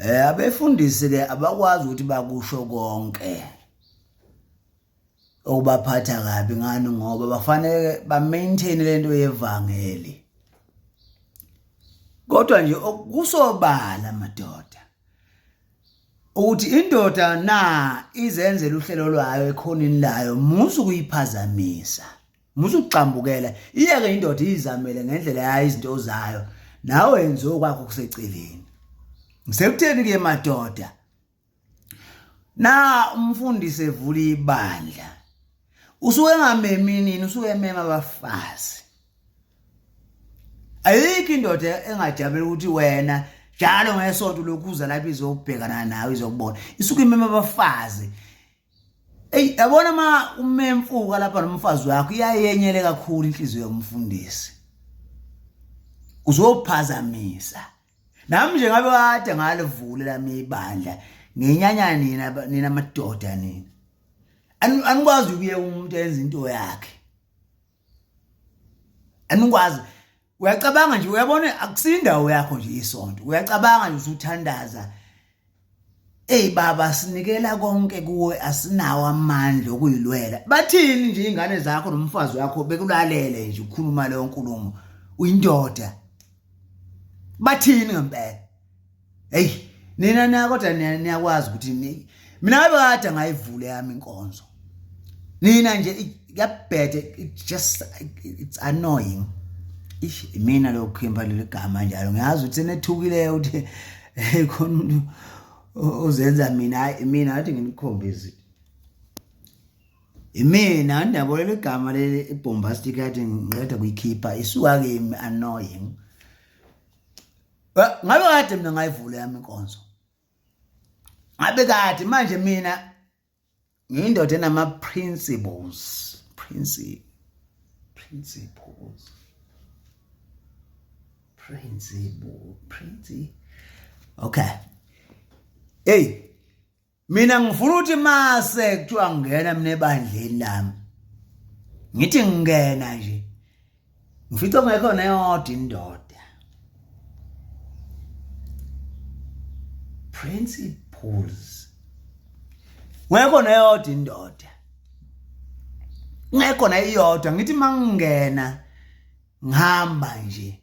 Eh abefundisi ke abakwazi ukuthi bakusho konke okubaphatha kabi ngani ngoba bafanele ba maintain lento yevangeli kodwa nje okusobala madoda ukuthi indoda na izenzela uhlelo lwayo ekhonini layo musu kuyiphazamisa musugxambukela iyeke indoda izamele ngendlela yayo izinto zayo nawe yenze okwakho kuseceleni ngisekutheni ke madoda na umfundisi evula ibandla usuke ngamemi nini usuke emema abafazi ayikho indoda engajabela ukuthi wena njalo ngesonto lokhuza lapho izobhekana nawe izokubona isuke imema abafazi Ey yabona ma umemfuka lapha nomfazi wakho iyayenyele kakhulu inhliziyo yomfundisi. Uzophazamisa. Nami nje ngabe kade ngalivule lami ibandla ngenyanya nina nina madoda nina. Anikwazi ukuye umuntu enza into yakhe. Anikwazi uyacabanga nje uyabona akusindawo yakho nje isonto uyacabanga nje usuthandaza Ey baba sinikela konke kuwe asinawo amandla okuyilwela. Bathini nje ingane zakho nomfazi wakho bekulalele nje ukhuluma leyo nkulumo. Uyindoda. Bathini ngempela? Hey nina na kodwa niyakwazi ukuthi ni mina ngabe kade ngayivule yami inkonzo. Nina nje kuyabhede it just it's annoying. Ish mina lokhimba leli gama njalo ngiyazi ukuthi senethukile ukuthi eh, khona umuntu uzenza mina hayi mina ngathi nginikhombise imina andabolela igama leli ibhombastic athi ngiqeda kuyikhipha isuka kimi annoying ngabe kade mina ngayivula yami inkonzo ngabe kade manje mina ngiyindoda enama principles principle principles principle principle okay hey mina ngifuna ukuthi mase kuthiwa ngingena mina ebandleni lami ngithi ngingena nje ngifica kungekho neyodwa indoda principles ngekho neyodwa indoda ngekho neyodwa ngithi mangingena ngihamba nje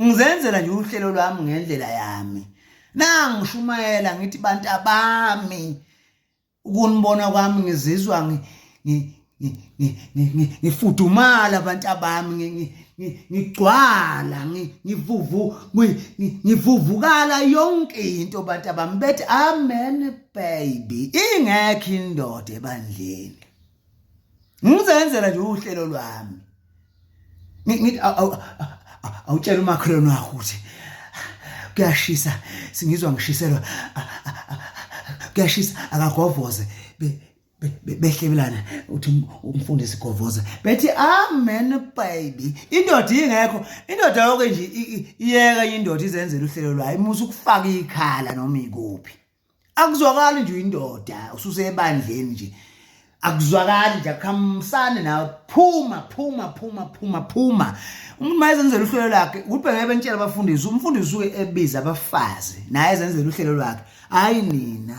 ngizenzela nje uhlelo lwami ngendlela yami nangishumayela ngithi bantu abami ukunibona kwami ngizizwa ngifudumala abantu abami ngigcwala ngivuvu ngivuvukala yonke into abantu abami bethi amen baby ingekho indoda ebandleni ngizenzela nje uhlelo lwami ngithi awutshela umakhelwane wakho ukuthi kuyashisa singizwa ngishiselwa kuyashisa akagovoze behlebelana uthi um, umfundisi govoza bethi amen baby indoda ingekho indoda yonke nje iyeka indoda izenzela uhlelo lwayo imusa ukufaka ikhala noma ikuphi akuzwakali nje uyindoda ususebandleni nje akuzwakali nje akhamsane nawe phuma phuma phuma phuma phuma umuntu mayezenzela uhlelo lakhe ubheke bentshela abafundisi umfundisi uke ebiza abafazi naye ezenzela uhlelo lwakhe hayi nina